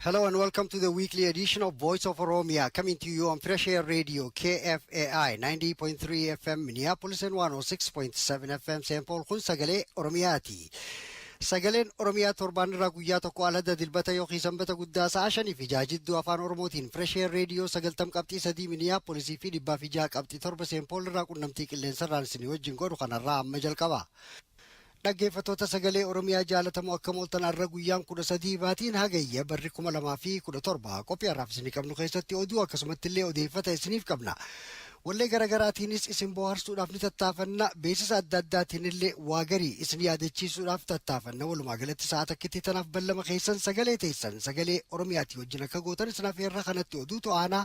Hello and welcome to the weekly edition of Voice of Oromia, coming to you on Fresh Air Radio, KFAI, 90.3 FM, Minneapolis and 106.7 FM, St. Paul, kun sagalee Oromiyaati. Sagaleen Oromiyaa torbaan irraa guyyaa tokko alada dilbata yookiin sanbata guddaa sa'a shanii fi ja'a jidduu afaan Oromootiin Fresh Air Radio sagaltam qabxii sadii Minneapolis fi dhibbaa fi ja'a qabxii torba St. Paul irraa qunnamtii qilleensarraan isinii wajjin godhu kanarraa amma jalqaba. Dhaggeeffattoota Sagalee Oromiyaa jaalatamoo akkam ooltan arra guyyaan 13 baatiin Hagayya barri 2017 qophii har'aaf isinii qabnu keessatti oduu akkasumatti illee odeeffata isiniif qabna. Wallee garagaraatiinis isin booharsuudhaaf ni tattaafanna beeksisa adda addaatiin illee waa garii isin yaadachiisuudhaaf tattaafanna walumaa galatti sa'a takkitti tanaaf ballama keessan sagalee teessan sagalee Oromiyaatii wajjin akka gootan isin afeerra kanatti oduutu aanaa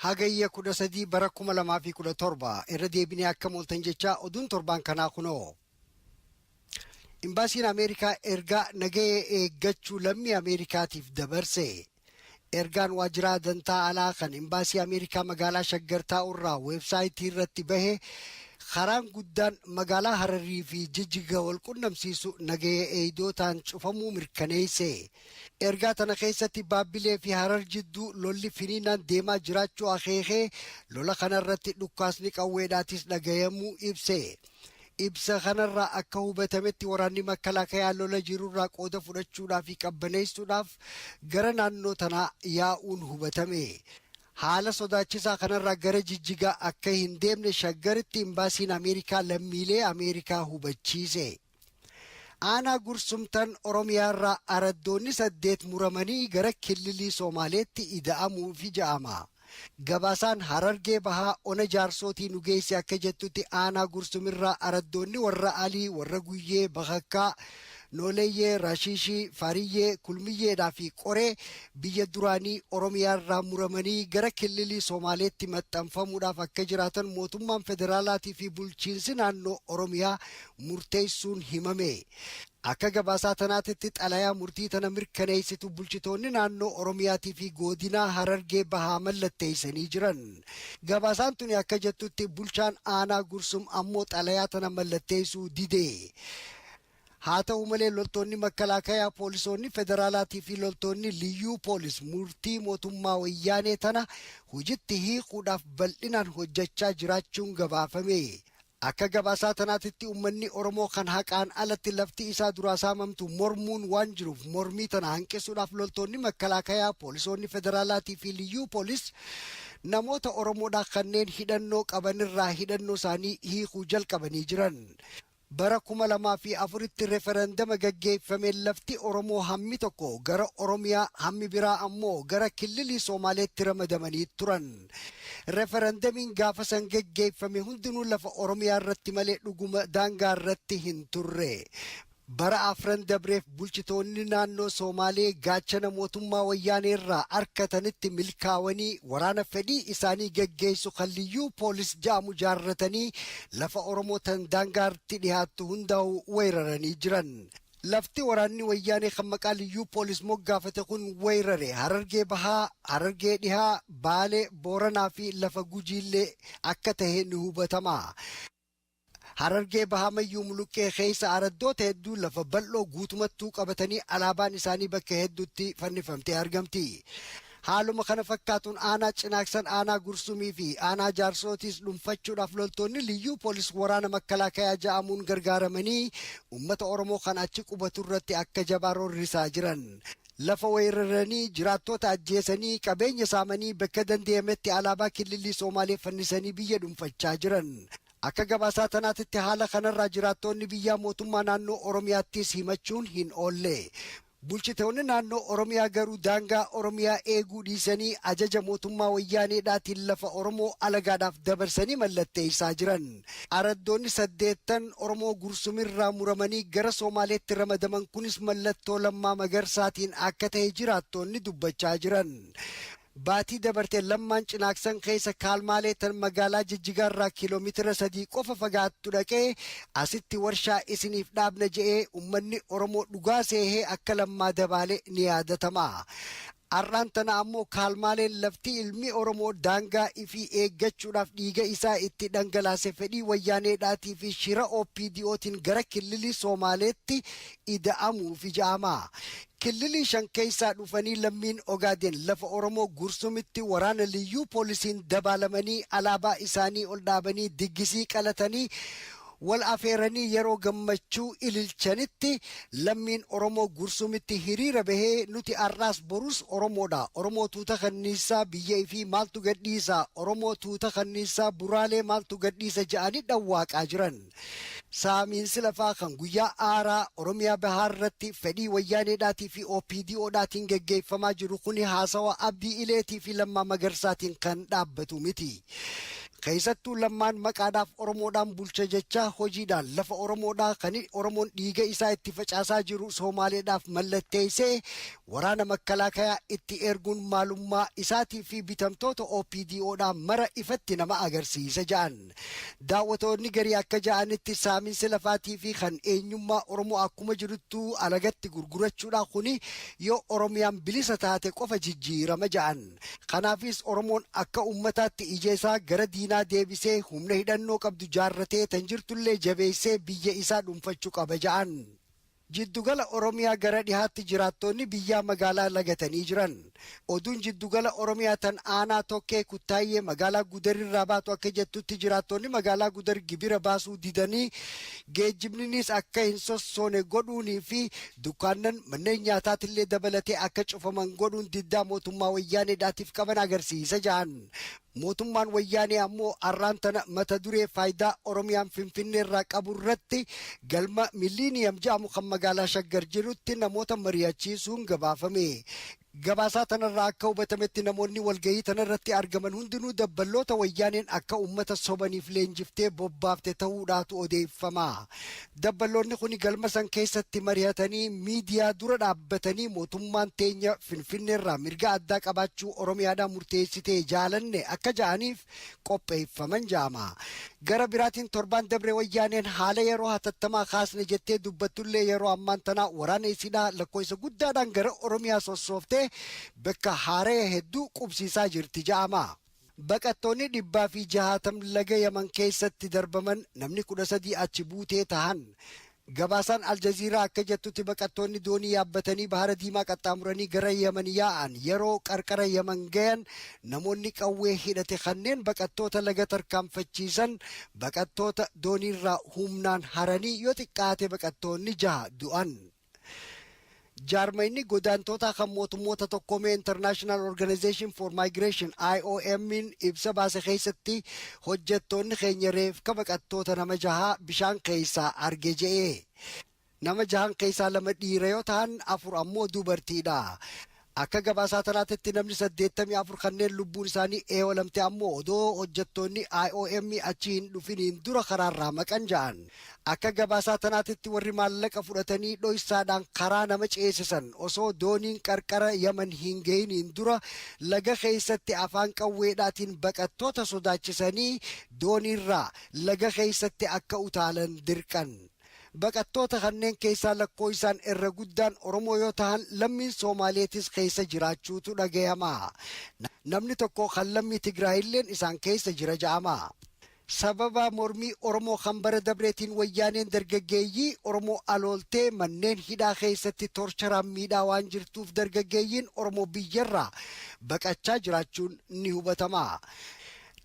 Hagayya 13 bara 2017 irra deebinee akkam ooltan jechaa oduun torbaan kanaa kunoo. Imbaasiin Ameerikaa ergaa nagahee eeggachuu lammii Ameerikaatiif dabarse. Ergaan waajjiraa dantaa alaa kan imbaasii Ameerikaa magaalaa Shaggar taa'urraa weebsaayitii irratti bahe karaan guddaan magaalaa Hararii fi Jijjiga wal qunnamsiisu nagahee eeydootaan cufamuu mirkaneesse. Ergaa tana keessatti Baabbilee fi Harar jidduu lolli finiinaan deemaa jiraachuu akeekee, lola kana irratti dhukkaasni qawweedhaatis dhagayamuu ibse. Ibsa kanarraa akka hubatametti waraanni Makkalaakayaa lola jirurraa qooda fudhachuudhaa fi qabbaneessuudhaaf gara naannoo tanaa yaa'uun hubatame. Haala sodaachisaa kanarraa gara Jijjigaa akka hin deemne Shaggaritti Imbaasiin Ameerikaa lammiilee Ameerikaa hubachiise. Aanaa Gursumtan Oromiyaarraa araddoonni saddeet muramanii gara killilii Soomaaleetti ida'amuufi ja'ama. Gabaasaan Harargee Bahaa Ona Jaarsootii nu geesse akka jettutti aanaa Gursumirraa araddoonni warra Alii, warra Guyyee, Bakakkaa, Nooleeyyee, Rashiishii, Fariyyee, Kulmiyyeedhaa fi Qoree biyya duraanii Oromiyaarraa muramanii gara killilii Soomaaleetti maxxanfamuudhaaf akka jiraatan mootummaan federaalaatii fi bulchiinsi naannoo Oromiyaa murteessuun himame. Akka gabaasaa tanaatitti xalayaa murtii tana mirkaneessitu bulchitoonni naannoo Oromiyaatii fi goodinaa Harargee Bahaa mallatteessanii jiran. Gabaasaan tuni akka jettutti bulchaan aanaa Gursum ammoo xalayaa tana mallatteessuu dide. Haa ta'u malee loltoonni makkalaakayaa poolisoonni federaalaatii fi loltoonni liyyuu poolis murtii mootummaa wayyaanee tana hojitti hiikuudhaaf bal'inaan hojjachaa jiraachuun gabaafame. Akka gabaasaa tanaatitti ummanni Oromoo kan haqaan alatti lafti isaa duraa saamamtu mormuun waan jiruuf mormii tana hanqisuudhaaf loltoonni makkalaakayaa, poolisoonni federaalaatii fi liyyuu poolis namoota Oromoodhaa kanneen hidhannoo qabanirraa hidhannoo isaanii hiikuu jalqabanii jiran. Bara 2004tti referandama gaggeeffameen lafti Oromoo hammi tokko gara Oromiyaa hammi biraa ammoo gara killilii Soomaaleetti ramadamanii turan. Referandamiin gaafa san geggeeffame hundinuu lafa Oromiyaa irratti malee dhuguma daangaa irratti hin turre. Bara afran dabreef bulchitoonni naannoo Soomaalee gaachana mootummaa wayyaanee irraa arkatanitti milkaawanii waraana fedhii isaanii geggeessu kan liyyuu poolis ja'amu jaarratanii lafa Oromoo tan daangaartti dhihaattu hundaa'u weeraranii jiran. Lafti waraanni Wayyaanee kan maqaa Liyyuu Poolis moggaafate kun wayrare Harargee Bahaa, Harargee Dhihaa, Baalee, Booranaa fi lafa Gujiillee akka tahe ni hubatama. Harargee Bahaa Mayyuu Muluqqee keessa araddoota hedduu lafa bal'oo guutumattuu qabatanii alaabaan isaanii bakka hedduutti fannifamtee argamti. Haaluma kana fakkaatuun aanaa Cinaaksan, aanaa Gursumii fi aanaa Jaarsootiis dhunfachuudhaaf loltoonni Liyyuu Poolis waraana Makkalaakayaa ja'amuun gargaaramanii uummata Oromoo kan achi qubatu irratti akka jabaa roorrisaa jiran. Lafa weeraranii, jiraattoota ajjeesanii, qabeenya saamanii, bekka dandeeyametti alaabaa Killillii Soomaalee fannisanii biyya dhunfachaa jiran. Akka gabaasaa tanaatitti haala kanarraa jiraattoonni biyyaa mootummaa naannoo Oromiyaattiis himachuun hin oolle. Bulchitoonni naannoo Oromiyaa garuu daangaa Oromiyaa eeguu dhiisanii ajaja mootummaa Wayyaaneedhaatiin lafa Oromoo alagaadhaaf dabarsanii mallatteessaa jiran. Araddoonni saddeettan Oromoo Gursumirraa muramanii gara Soomaaleetti ramadaman kunis mallattoo Lammaa Magarsaatiin akka tahe jiraattoonni dubbachaa jiran. Baatii dabarte Lammaan Cinaaksan keessa Kaalmaalee tan magaalaa Jijjigaarraa kiilomeetira sadii qofa fagaattu dhaqee asitti warshaa isiniif dhaabna je'ee ummanni Oromoo dhugaa seehee akka Lammaa dabaale ni yaadatama. Ar'aan tana ammoo Kaalmaaleen lafti ilmi Oromoo daangaa ifii eeggachuudhaaf dhiiga isaa itti dhangalaase fedhii Wayyaaneedhaatii fi shira OPDOtiin gara killilii Soomaaleetti ida'amuufi ja'ama. Killilii shan keessaa dhufanii lammiin Ogaadeen lafa Oromoo Gursumitti waraana liyyuu poolisiin dabaalamanii alaabaa isaanii ol dhaabanii diggisii qalatanii wal afeeranii yeroo gammachuu ililchanitti lammiin Oromoo Gursumitti hiriira bahee nuti har'aas borus Oromoodha. Oromoo tuuta kanniissaa biyya ifii maaltu gadhiisa? Oromoo tuuta kanniissaa buraalee maaltu gadhiisa? ja'anii dhawwaaqaa jiran. Saamiinsi lafaa kan guyyaa aaraa Oromiyaa Bahaa irratti fedhii Wayyaaneedhaatii fi OPDO dhaatiin geggeeffamaa jiru kuni haasawa Abdii Ileetii fi Lammaa Magarsaatiin kan dhaabbatu miti. Keessattuu Lammaan maqaadhaaf Oromoodhaan bulcha jechaa hojiidhaan lafa Oromoodhaa kan Oromoon dhiiga isaa itti facaasaa jiru Soomaaleedhaaf mallatteessee waraana makkalaakayaa itti erguun maalummaa isaatii fi bitamtoota OPDOdhaa mara ifatti nama agarsiisa ja'an. Daawwatoonni garii akka ja'anitti saaminsi lafaatii fi kan eenyummaa Oromoo akkuma jiruttuu alagatti gurgurachuudha kuni yoo Oromiyaan bilisa taate qofa jijjiirama ja'an. Kanaafis Oromoon akka ummataatti ija isaa gara diinaa deebisee humna hidhannoo qabdu jaarratee tan jirtullee jabeessee biyya isaa dhunfachu qaba ja'an. Jiddugala Oromiyaa gara dhihaatti jiraattoonni biyyaa magaalaa lagatanii jiran. Oduun jiddugala Oromiyaa tan aanaa Tokkee Kuttaayyee magaalaa Gudar irraa baatu akka jettutti jiraattoonni magaalaa Gudar gibira baasuu didanii geejjibninis akka hin sossoone godhuunii fi dukkaannan manneen nyaataatillee dabalatee akka cufaman godhuun diddaa mootummaa Wayyaaneedhaatiif qaban agarsiisa jahan Mootummaan Wayyaanee ammoo arraan tana mata duree faayidaa Oromiyaan Finfinneerraa qaburratti galma Milliiniyam jedhamu kan magaalaa Shaggar jirutti namoota mari'achiisuun gabaafame. Gabaasaa tanarraa akka hubatametti namoonni walgahii tanarratti argaman hundinuu dabballoota Wayyaaneen akka ummata sobaniif leenjiftee bobbaafte tahuudhaatu odeeffama. Dabbaloonni kuni galma san keessatti marihatanii miidiyaa dura dhaabbatanii mootummaan teenya Finfinneerraa mirga addaa qabaachuu Oromiyaadhaa murteessitee jaalanne akka ja'aniif qopheeffaman ja'ama. Gara biraatiin torbaan dabre Wayyaaneen haala yeroo hatattamaa kaasne jettee dubbattullee yeroo ammaan tanaa waraana isiidhaa lakkooysa guddaadhaan gara Oromiyaa sossooftee bakka haaraya hedduu qubsiisaa jirti ja'ama. Baqattoonni dhibbaa fi jahaatam laga Yaman keessatti darbaman namni 13 achi buutee tahan. Gabaasaan Aljaziiraa akka jettutti baqattoonni doonii yaabbatanii Bahara Diimaa qaxxaamuranii gara Yaman yaa'an yaroo qarqara Yaman gayan namoonni qawwee hidhate kanneen baqattoota laga tarkaanfachiisan baqattoota dooniirraa humnaan haranii yoo xiqqaate baqattoonni jaha du'an. Jaarmayni godaantootaa kan mootummoota tokkoomee International Organization for Migration IOM'n ibsa baase keessatti hojjettoonni keenya reefka baqattoota nama jahaa bishaan keessaa arge je'e. Nama jahan keessaa lama dhiira yoo tahan afur ammoo dubartiidha. Akka gabaasaa tanaatitti namni 84 kanneen lubbuun isaanii eewalamte ammoo odoo hojjattoonni IOM achi hin dhufiniin dura karaarraa maqan ja'an. Akka gabaasaa tanaatitti warri maallaqa fudhatanii dhoysaadhaan karaa nama ceesisan osoo dooniin qarqara Yaman hin gahiniin dura laga keessatti afaan qawweedhaatiin baqattoota sodaachisanii dooniirraa laga keessatti akka utaalan dirqan. Baqattoota kanneen keessaa lakkooysaan irra guddaan Oromoo yoo tahan lammiin Soomaaleetis keeysa jiraachuutu dhagayama. Namni tokko kan lammii Tigraayilleen isaan keeysa jira ja'ama. Sababa mormii Oromoo kan bara dabreetiin Wayyaaneen dargaggeeyyii Oromoo alooltee manneen hidhaa keeysatti torcharaan miidhaa waan jirtuuf dargaggeeyyiin Oromoo biyyarraa baqachaa jiraachuun ni hubatama.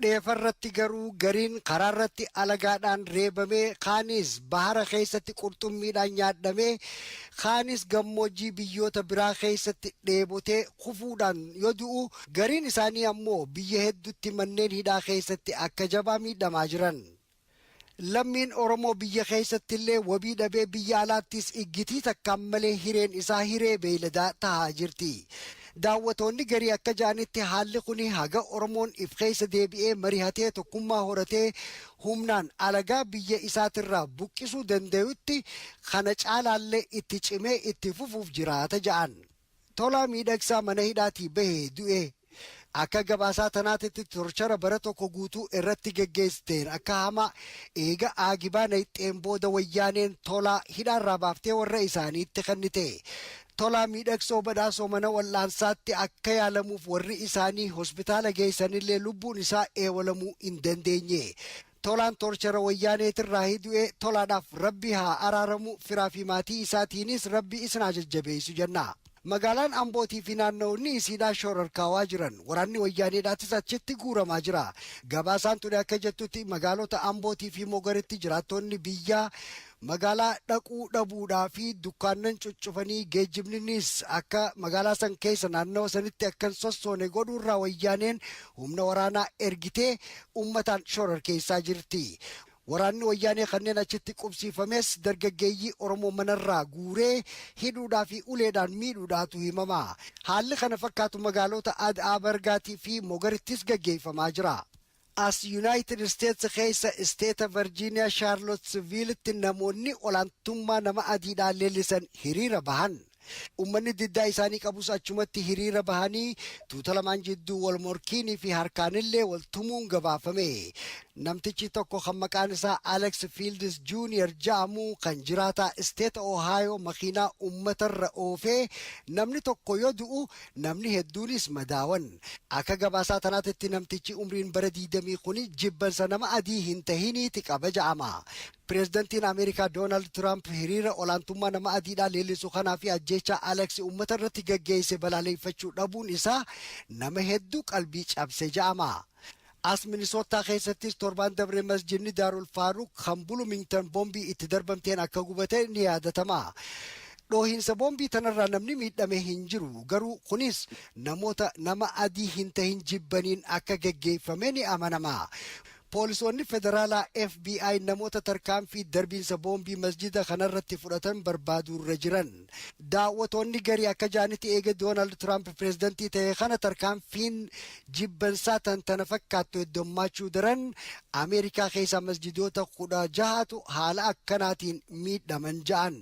Dheefarratti garuu gariin karaarratti alagaadhaan reebamee, kaanis bahara keessatti qurxummiidhaan nyaadhamee, kaanis gammoojjii biyyoota biraa keessatti dheebotee kufuudhaan yoo du'u, gariin isaanii ammoo biyya hedduutti manneen hidhaa keessatti akka jabaa miidhamaa jiran. Lammiin Oromoo biyya keessattillee wabii dhabee biyya alaattis iggitii takkaan malee hireen isaa hiree beeyladaa tahaa jirti. Daawwatoonni garii akka ja'anitti haalli kuni haga Oromoon if keessa deebi'ee marihatee tokkummaa horatee humnaan alagaa biyya isaatirraa buqqisuu dandayutti kana caalaallee itti cimee itti fufuuf jiraata ja'an. Tolaa Miidhagsaa mana hidhaatii bahee du'e. Akka gabaasaa tanaatitti torchara bara tokko guutuu irratti geggeessiteen akka hamaa eega aagibaa nayxxeen booda wayyaaneen Tolaa hidhaarraa baaftee warra isaaniitti kennite. Tolaa Miidhagsoo Badhaasoo mana wal'aansaatti akka yaalamuuf warri isaanii hospitaala geessanillee lubbuun isaa eewalamuu hin dandeenye. Tolaan torchera wayyaaneetirraahi du'e tolaadhaaf rabbi haa araaramu firaa fi maatii isaatiinis rabbi isin haa jajjabeeysu jenna. Magaalaan Ambootii fi naanna'onni isiidhaa shoorarkaawaa jiran waraanni wayyaaneedhaatis achitti guuramaa jira. Gabaasaan tuni akka jettutti magaalota Ambootii fi Mogoritti jiraattoonni biyyaa Magaalaa dhaquu dhabuudhaa fi dukkaannan cuccufanii geejjibninnis akka magaalaa san keessa naannawa sanitti akka hin sossoone godhuurraa wayyaaneen humna waraanaa ergitee ummataan shororkeessaa jirti. Waraanni wayyaanee kanneen achitti qubsiifames dargaggeeyyii Oromoo manarraa guuree hidhuudhaa fi uleedhaan miidhuudhaatu himama. Haalli kana fakkaatu magaaloota Ad'aa Bargaatii fi Mogarittis gaggeeyfamaa jira. As Yunaayitid Isteets keessa Isteeta Varjiiniyaa Shaarlotsviilitti namoonni olaantummaa nama adiidhaa leellisan hiriira bahan. Ummanni diddaa isaanii qabus achumatti hiriira bahanii tuuta lamaan jidduu wal morkiinii fi harkaanillee wal tumuun gabaafame. Namtichi tokko kan maqaan isaa Alex Fields Junior ja'amu kan jiraataa Isteeta Ohaayoo makiinaa ummatarra oofee namni tokko yoo du'u Namni hedduunis madaawan. Akka gabaasaa tanaatitti namtichi umriin bara 20 kuni jibbansa nama adii hin tahiniiti qaba ja'ama. Pireezidantiin Ameerikaa Doonaald Tiraamp hiriira olaantummaa nama adiidhaa leellisu kanaa fi ajjeechaa Alex ummata irratti gaggeesse balaaleeffachuu dhabuun isaa nama heddu qalbii cabse ja'ama. As Minisoottaa keessattis torbaan dabre masjidni Daarul Faaruq kan Bulumingtan boombii itti darbamteen akka gubate ni yaadatama. Dhoohinsa boombii tanarraa namni miidhame hin jiru garuu kunis namoota nama adii hin tahin jibbaniin akka geggeeffame ni amanama. Poolisoonni federaalaa FBI namoota tarkaanfii darbiinsa boombii masjida kanarratti fudhatan barbaaduurra jiran. Daawwatoonni garii akka ja'anitti eega Doonaald Tiraamp pireezidantii ta'ee kana tarkaanfiin jibbansaa tan tana fakkaattu heddommaachuu daran Ameerikaa keessaa masjidoota 16tu haala akkanaatiin miidhaman ja'an.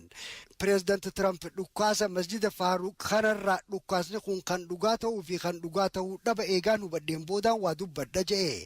Pireezidant Tiraamp dhukkaasa masjida Faaruuq kanarraa dhukkaasni kun kan dhugaa ta'uu fi kan dhugaa ta'uu dhaba eegaan hubadheen boodaan waa dubbadha ja'e.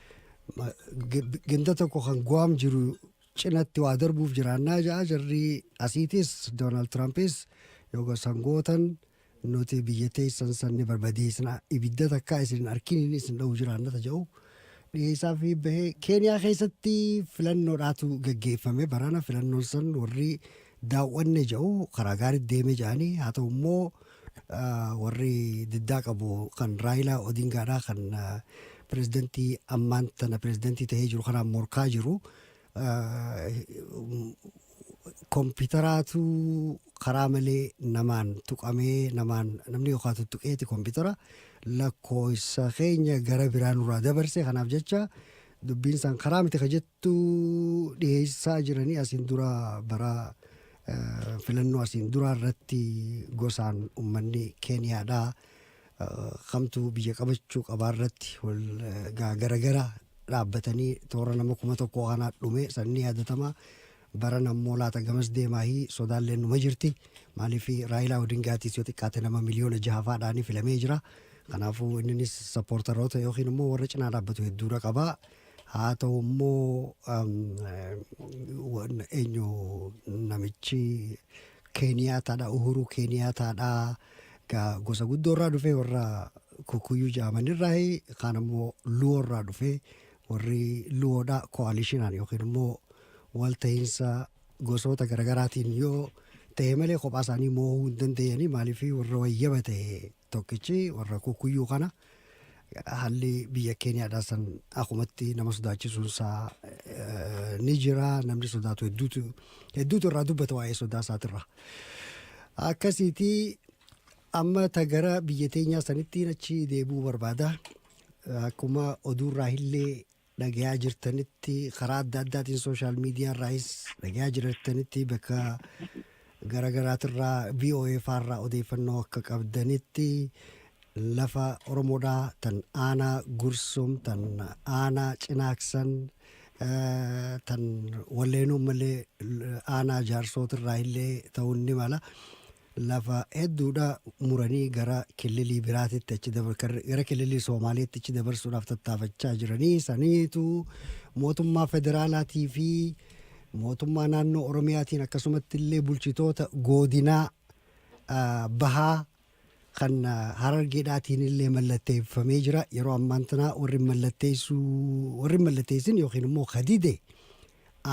Ma- g- ganda tokko kan guwaam jiru cinatti waa darbuuf jiraannaa ja'a jarri asiitis doonaald tiraampis yoga sangootan nuti biyya teessan san ni barbadeessina ibidda takkaa isin hin arkiniin isin dha'u jiraannata jedhu dhiyeessaa fi bahee keeniyaa keessatti filannoodhaatu gaggeeffame barana filannoon san warri daaw'anne jedhu karaa gaariitti deemee jedhanii haa ta'u immoo warri diddaa qabu kan Raayilaa Odingaadhaa kan pirezidantii ammaan tana pirezidantii ta'ee jiru kanaan morkaa jiru kompiitaraatu karaa malee namaan tuqamee namaan namni yookaan tuttuqeeti kompiitara lakkoofsa keenya gara biraa nurraa dabarse kanaaf jecha dubbiin isaan karaa miti ka jettu tu dhiheessaa jiranii asiin dura bara filannoo asiin duraa irratti gosaan ummanni keeniyaadhaa kamtu biyya qabachuu qabaa irratti wal garagara dhaabbatanii toora nama kuma tokko kanaa dhume sanni yaadatama baran ammoo laata gamas deemaahii sodaallee numa jirti maaliif raayilaa odingaatiis yoo xiqqaate nama miliyoona jahafaadhaanii filamee jira kanaafuu inninis sappoortaroota yookiin immoo warra cinaa dhaabbatu hedduudha qabaa. Haa ta'u immoo eenyu namichi Keeniyaataadha Uhuruu Keeniyaataadha gosa guddoo irraa dhufee warra kukuyyuu jedhaman irraa kaan immoo luwoo irraa dhufee warri luwoodha koalishinaan yookiin immoo walta'iinsa gosoota garaagaraatiin yoo ta'e malee kophaa isaanii moo'uu hin dandeenye maaliif warra wayyaba ta'e Tokkichi warra kukkuyyuu kana haalli biyya Keeniyaadhaa san akumatti nama sodaachisuun isaa eh, ni jira. Namni sodaatu hedduutu hedduutu irraa dubbata waa'ee sodaa isaatirra. Akkasiiti amma ta gara biyya teenyaa sanittiin achi deebi'uu barbaada. Akkuma oduurraa illee dhagayaa jirtanitti karaa adda addaatiin sooshaal miidiyaa irraayis dhagayaa jirtanitti bakka garaagaraatirraa VOA faarraa odeeffannoo akka qabdanitti lafa Oromoodhaa tan aanaa Gursum tan aanaa Cinaaksan eh, tan walleenuu malee aanaa jaarsootirraa illee ta'uun ni mala. lafa hedduudhaa muranii gara killilii biraatitti achi dabar- kar- gara killilii Soomaaleetti achi dabarsuudhaaf tattaafachaa jiranii saniitu mootummaa federaalaatii fi mootummaa naannoo Oromiyaatiin akkasumatti illee bulchitoota goodinaa ah, bahaa kan ah, harargeedhaatiin illee mallatteeffamee jira yeroo ammaan tanaa warri mallatteessuu warri mallatteessin yookiin immoo kadide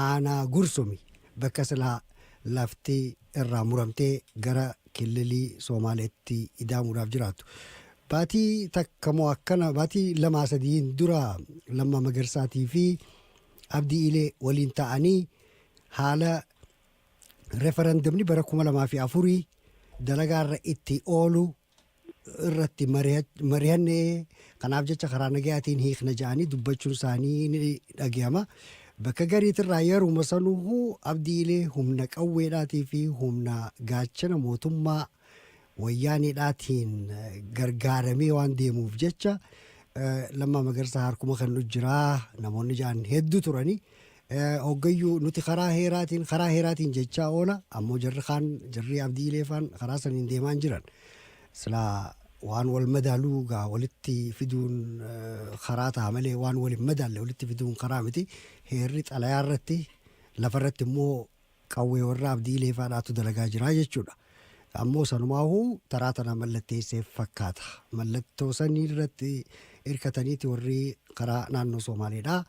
aanaa Gursumi bakka silaa lafti irraa muramtee gara killilii Soomaaleetti idaamuudhaaf jiraatu. Baatii takka moo akkana baatii lamaa sadiin dura Lammaa Magarsaatii fi Abdii Ilee waliin ta'anii haala referendumni bara kuma lamaa fi afurii dalagaarra itti oolu irratti mari'anne kanaaf jecha karaa nagayaatiin hiikna ja'anii dubbachuun isaanii ni dhagahama. Bakka gariitirraa yeruma sanuu abdiilee humna qawweedhaatii fi humna gaachana mootummaa wayyaaneedhaatiin gargaaramee waan deemuuf jecha lammaa magarsaa harkuma kan nu jiraa namoonni ja'an hedduu turanii Hoggayyuu nuti karaa heeraatiin karaa heeraatiin jechaa oola ammoo jarri kaan jarri abdii ileefaan karaa saniin deemaa hin jiran silaa waan wal madaaluu gaa walitti fiduun karaa ta'a malee waan wal hin madaalle walitti fiduun karaa miti heerri xalayaa irratti lafa irratti immoo Qawwee warra Abdii Ilee faadhaatu dalagaa jira jechuudha. Ammoo sanumaahuu taraa tana mallatteesseef fakkaata. Mallattoo sanii irratti hirkataniiti warri karaa naannoo Soomaaleedhaa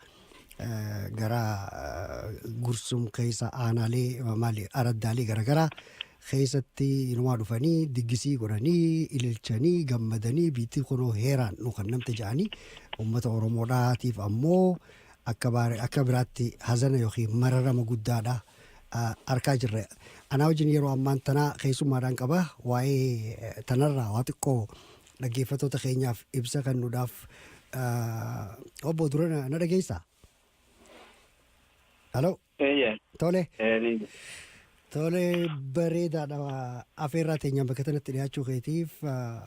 gara Gursum keessa aanaalee maali araddaalee garaagaraa keessatti inumaa dhufanii diggisii godhanii ililchanii gammadanii biittii kunoo heeraan nu kan namte ja'anii uummata Oromoodhaatiif ammoo Akka baare akka biraatti hazana yookiin mararama guddaadha arkaa jirra. Anaa wajjin yeroo ammaan tanaa keessummaadhaan qaba waa'ee tanarraa waa xiqqoo dhaggeeffattoota keenyaaf ibsa kennuudhaaf obbo dura na dhageessaa? Haloo. Eeyyee. Tole. Ee, ni jira. Tole bareedaadha. Afeerraa teenyaan bakka kanatti dhiyaachuu keetiif ah,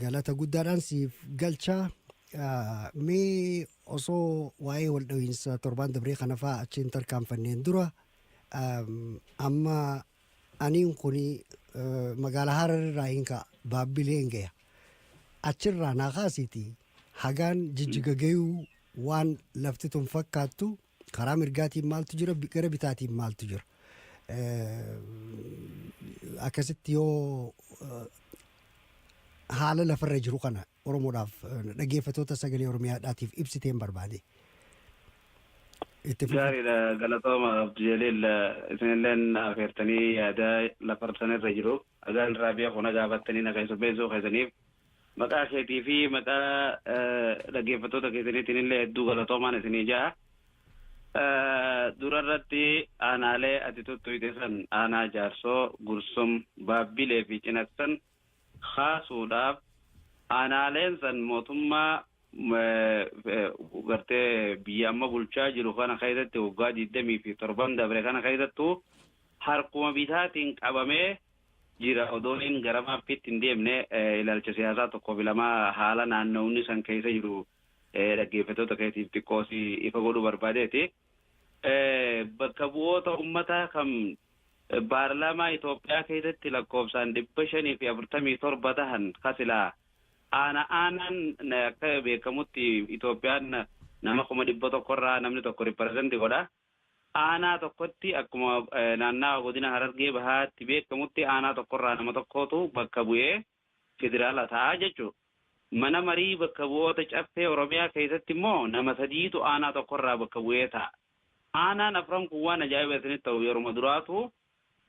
galata guddaadhaan siif galcha. Ah, Mee osoo waa'ee wal dhahiinsa torbaan dabree kana fa'aa achiin tarkaanfanneen dura am, amma Aniin kun magaala Harar irraa hin ka'a Baabbileen gaya. Achirraa naa kaasiiti hagaan jijjiga gayuu waan lafti tun fakkaattu karaa mirgaatiin maaltu jira bi- gara bitaatiin maaltu jira. Eh, Akkasitti yoo eh, haala lafarra jiru kana Oromoodhaaf dhaggeeffatoota sagalee Oromiyaadhaatiif ibsiteen barbaade. Itti fufa. Gaariidha galatooma Abdu Jaliil isinilleen afeertanii yaada lafarsan irra jiru agaan irraa beeku na gaafattanii na keessummeessuu keessaniif maqaa keetii fi maqaa eh, dhaggeeffattoota keessaniitiin illee hedduu galatoomaan isinii ja'a. Eh, Dura irratti aanaalee ati tuttuqxe san aanaa jaarsoo, gursum, baabbilee fi cinaksan kaasuudhaaf aanaaleen san mootummaa gartee biyya amma bulchaa jiru kana keessatti waggaa 20 fi torban dabre kana keessattuu harkuma bitaatiin qabamee jira odoo inni gara maappiitti hin deemne ilaalcha siyaasaa tokkoo fi lama haala naannawni san keessa jiru dhaggeeffatoota keetiif xiqqoo si ifa godhuu barbaadeeti. Bakka bu'oota ummataa kan Paarlaamaa Itoophiyaa keessatti lakkoofsaan 547 tahan ka silaa aana aanaan akka beekamutti Itoophiyaan nama 100,000 irraa namni tokko represent godha. Aanaa tokkotti akkuma naannawa godina Harargee Bahaatti beekamutti aanaa tokko irraa nama tokkootu bakka bu'ee Federaalaa ta'a jechuudha. Mana Marii Bakka Bu'oota Caffee Oromiyaa keessatti immoo nama sadiitu aanaa tokko irraa bakka bu'ee taa'a. Aanaan afran kun waan ajaa'iba isinitti ta'u yeruma duraatuu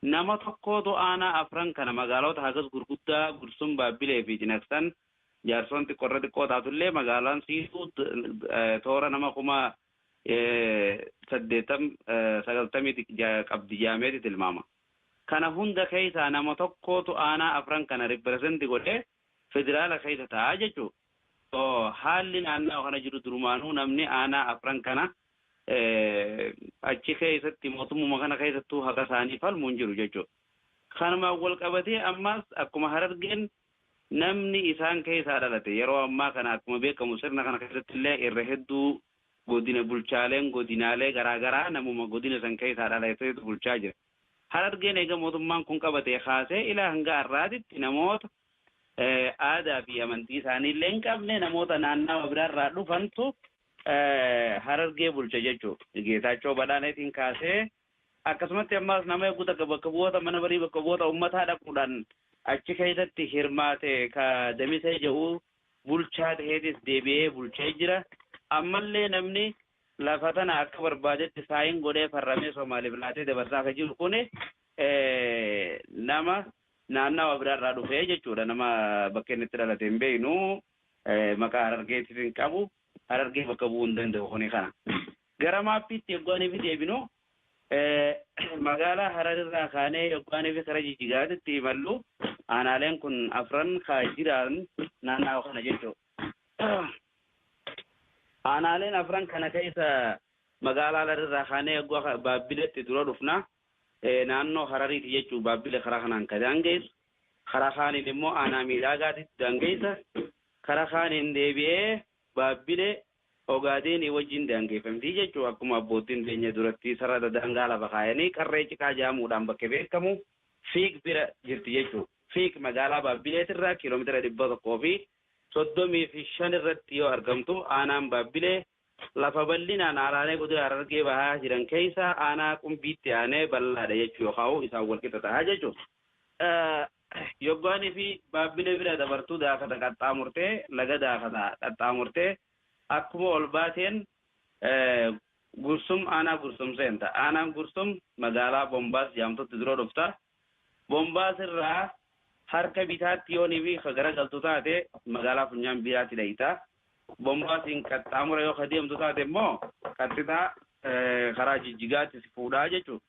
nama tokkootu aanaa afran kana magaalota hagas gurguddaa Gursum, Baabbilee fi Cinaksan Jaarsoon xiqqo irra xiqqoo taatu illee magaalaan siituu toora nama kuma 80, 90 qabdi jedhameeti tilmaama. Kana hunda keessaa nama tokkootu aanaa afran kana represent godhee federaala keessa taa'a jechuu dha. Haalli naannawa kana jiru durumaanuu namni aanaa afran kana achi keessatti mootummuma kana keessattuu haqa isaanii falmu hin jiru jechuu dha. Kanumaan wal qabatee ammaas akkuma Harargeen namni isaan keessaa dhalate yeroo ammaa kana akkuma beekamu sirna kana keessatti illee irra hedduu Godina bulchaaleen godinaalee garaa garaa namuma godina san keessaa dhalatetu bulchaa jira. Harargeen eega mootummaan kun qabatee kaasee ila hanga har'aatitti namoota aadaa fi amantii isaanii illee hin qabne namoota naannawa biraa irraa dhufantu Harargee bulcha jechuudha. Geetaachoo Badhaaneetiin kaasee Akkasumatti ammaas nama yogguu takka bakka bu'oota mana marii bakka bu'oota ummataa dhaquudhaan achi keessatti hirmaate ka Damisee jedhu bulchaa taheetis deebi'ee bulchee jira. Ammallee namni lafa tana akka barbaadetti saayin godhee farramee Somaaliif laatee dabarsaa ka jiru kuni nama naannawa biraarraa dhufe jechuudha. Nama bakka inni itti dhalate hin beeknu. maqaa Harargeetiif hin qabu, Harargee bakka bu'uu hin danda'u kuni kana. Gara maappiitti yogguu ani fi deebinu magaalaa Harar irraa kaanee yogguu ani fi kara Jijjigaatitti imallu aanaaleen kun afran ka jiraan naannawa kana jechuudha. Aanaaleen afran kana keessa magaalaa Harar irraa kaanee yogguu akka Baabbileetti dura dhufna naannoo Harariiti jechuudha Baabbile karaa kanaan ka daangeessu. karaa kaaniin immoo aanaa Miidhaagaatitti daangeessa, karaa kaaniin deebi'ee Baabbilee, Ogaadeenii wajjin daangeeffamti jechuun akkuma abboottiin teenya duratti sarara daangaa lafa kaayanii Qarree Ciqaa jedhamuudhaan bakke beekamu Fiig bira jirti jechuudha. Fiig magaalaa Baabbileetirraa kiilomeetira 135 irratti yoo argamtu, aanaan Baabbilee Lafa bal'inaan aanaalee Godina Harargee Bahaa jiran keessaa aanaa Qumbiitti aanee bal'aadha jechuu yookaan isaan walqixa ta'a jechuudha. Yoggaan fi Baabbilee bira dabartu Daakata qaxxaamurtee laga Daakata qaxxaamurtee akkuma ol baateen Gursum aanaa Gursum seenta. Aanaan Gursum magaalaa Bombaas jaamtutti dura dhufta. Bombaas irraa harka bitaatti yoo ni fi ka garagaltu taate magaalaa funyaan biiraatti dhayxa. Bombaasiin qaxxaamura yoo ka deemtu taate immoo qaxxixa karaa Jijjigaatti si fuudha jechuudha.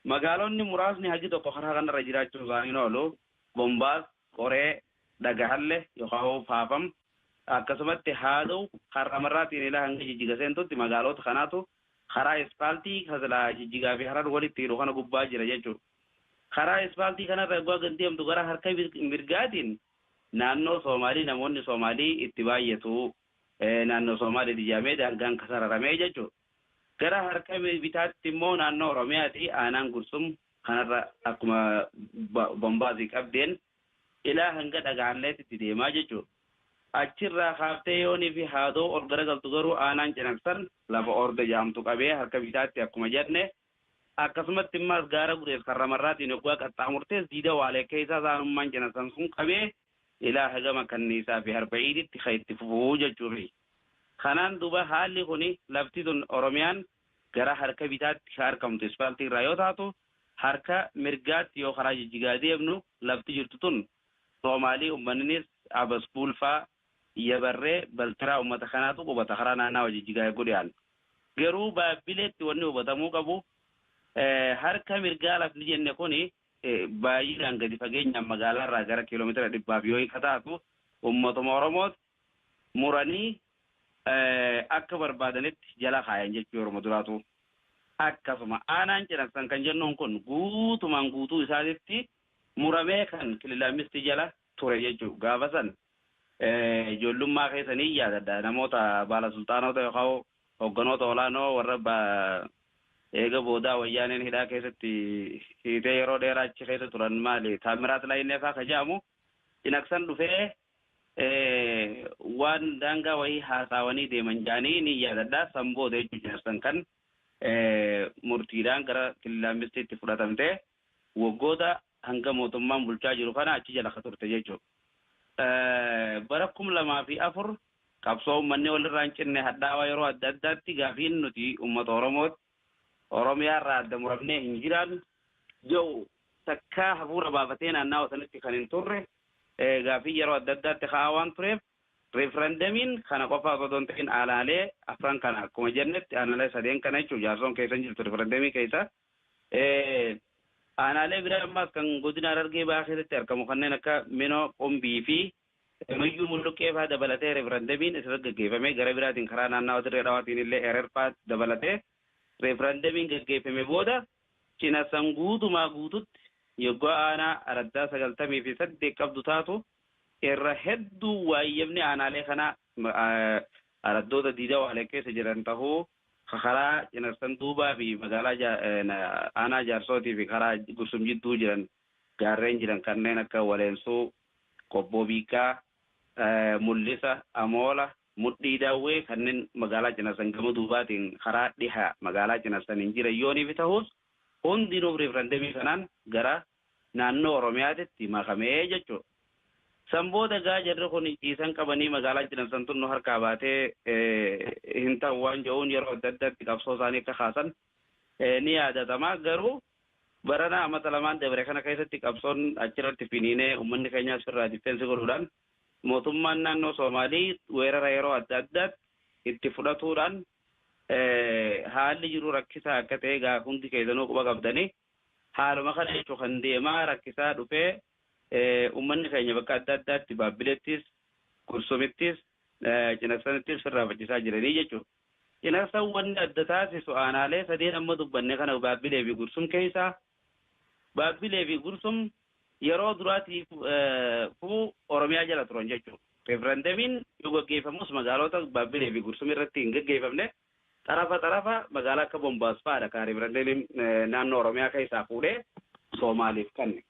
Magaalonni muraasni hagi tokko karaa kana irra jiraachuun isaanii hin oolu. Bombaas, Qoree, Dhagahalle yookaan hoo Faafam akkasumatti Haadow, Harramarraa Xiinilaa hanga Jijjiga seentutti magaaloota kanaatu Karaa Ispaaltii ka silaa Jijjigaa fi Harar walitti hidhu kana gubbaa jira jechuu dha. Karaa Ispaaltii kana irra yogguu gad deemtu gara harka mirgaatiin naannoo Soomaalii namoonni Soomaalii itti baay'atu naannoo Soomaaliiti jedhamee daangaan ka sararame jechuu dha. Gara harka bitaatti immoo naannoo Oromiyaati. Aanaan Gursum kanarra akkuma Bombaasii qabdeen Ilaa hanga dhaga'anleetitti deemaa jechuun achirraa kaaftee Yoonii fi Haadoo ol garagaltu garuu aanaan Cinaksan lafa Orde jedhamtu qabee harka bitaatti akkuma jenne akkasumatti immaas gaara Gudees karra marraatiin yoggaa qaxxaamurtees diida waalee keessaas aanummaan Cinaksan sun qabee ilaa hagama Kanniisaa fi Harba'iiditti ka itti fufu jechuufi. Kanaan duuba haalli kuni lafti tun Oromiyaan gara harka bitaatti ka arkamtu ispaaltii irraa yoo taatu Harka mirgaatti yoo karaa jijjigaa deemnu lafti jirtu tun Soomaalii ummaninis Abaskuul faa, Yabarree, Baltiraa ummata kanaatu qubata karaa naannawa jijjigaa egguu dhiyaannu. Garuu Baabbileetti wanni hubatamuu qabu harka mirgaa lafni jenne kuni baayyinaan gadi fageenyaan magaalaa irraa gara kiilomeetira dhibbaaf yoo hin ka taatu ummatuma Oromooti. muranii akka barbaadanitti jala kaayan jechuu yeruma duraatu akkasuma aanaan cinaksan kan jennuun kun guutumaan guutuu isaatitti muramee kan kilila ammistii jala ture jechuu gaafa san ijoollummaa keessa ni yaadadha namoota baala sulxaanoota yookaan hogganoota olaanoo warra eega boodaa wayyaaneen hidhaa keessatti hiitee yeroo dheeraa achi keessa turan maali taammiraat laayinnee faa ka ja'amu cinaksan dhufee waan daangaa wayii haasaawanii deeman jaanii ni yaadadha. San booda jechuun jaarsan kan murtiidhaan gara Killaammistiitti fudhatamte waggoota hanga mootummaan bulchaa jiru kana achi jala ka turte jechuudha. Bara kum lamaa fi afur qabsoo uummanni walirraa hin cinne hadhaawaa yeroo adda addaatti gaafiin nuti uummata Oromooti. Oromiyaa irraa adda muramnee hin jiraannu. Ja'u takkaa hafuura baafatee naannawa sanitti kan hin turre. gaaffiin yeroo adda addaatti ka'aa waan tureef riifrandamiin kana qofaa osoo hin ta'in aanaalee afran kana akkuma jennetti aanaalee sadeen kana jechuun jaarsoon keessa hin jirtu riifrandamii keessa aanaalee biraa ammaas kan godina Harargee Bahaa keessatti argamu kanneen akka Minoo Qumbii fi Nuyyuu Mulluqqee fa'aa dabalatee riifrandamiin asirratti gaggeeffamee gara biraatiin karaa naannawa Dirree Dhawaatiin illee Erer fa'aa dabalatee referandamiin gaggeeffame booda Cinassan guutumaa guututti yoggaa aanaa araddaa 98 qabdu taatu irra hedduu waayyabni aanaalee kanaa araddoota Diida Waale keessa jiran tahuu ka karaa Cinassan duubaa fi magaalaa aanaa Jaarsootii fi karaa Gursum jidduu jiran gaarreen jiran kanneen akka Waleensuu, Qobboo Biikkaa, Mullisa, Amoola, Mudhii Daawwee kanneen magaalaa Cinasan gama duubaatiin karaa dhiha magaalaa Cinasaniin jiran yooniif tahus hundinuu riifrandemii kanaan gara naannoo Oromiyaatitti makame jechuudha. San booda egaa jarri kun ciisan qabanii magaalaan Cinasan tun nu harkaa baatee hin tahu waan jedhuun yeroo adda addaatti qabsoo isaanii akka kaasan ni yaadatama. Garuu barana amata lamaan dabre kana keessatti qabsoon achirratti finiinee ummanni keenyaas firraa diffeensi godhuudhaan mootummaan naannoo Soomaalii weerara yeroo adda addaatti itti fudhatuudhaan haalli jiru rakkisaa akka ta'e egaa hundi keessanuu quba qabdani. Haaluma kana jechuun kan deemaa rakkisaa dhufee uummanni keenya bakka adda addaatti Baabbileettis, Gursumittis, Cinaksanitti sirraafachisaa jiranii jechuudha. Cinaksan wanni adda taasisu aanaalee sadeen amma dubbanne kana Baabbilee fi Gursum keessaa Baabbilee fi Gursum yeroo duraatiif fu Oromiyaa jala turan jechuudha. Referendemiin yoo gaggeeffamus magaalota Baabbilee fi Gursum irratti hin gaggeeffamne. Xarafa xarafa magaalaa akka Bombaas fa'aadha kan referendemiin naannoo Oromiyaa keessaa fuudhee Soomaaliif kanne.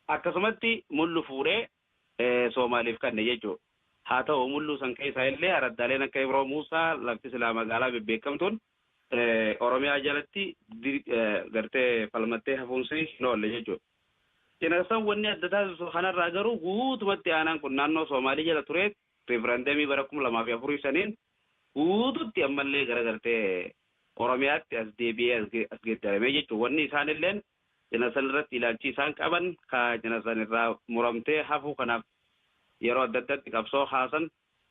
Akkasumatti Mullu fuudhee Soomaaliif kanne jechuudha. Haa ta'u mulluu san keessaa illee araddaaleen akka Ibroo Muusaa lafti silaa magaalaa bebbeekamtuun Oromiyaa jalatti gartee falmattee hafuunsii hin oolle jechuudha. Cinaqsan wanni adda taasisu kanarraa garuu guutumatti aanaan kun naannoo Soomaalii jala turee riifirandamii bara 2004 saniin guututti ammallee gara gartee Oromiyaatti as deebi'ee as geddaramee jechuudha. Wanni isaan illeen Jina san irratti ilaalchii isaan qaban ka jina san irraa muramtee hafuu kanaaf yeroo adda addaatti qabsoo kaasan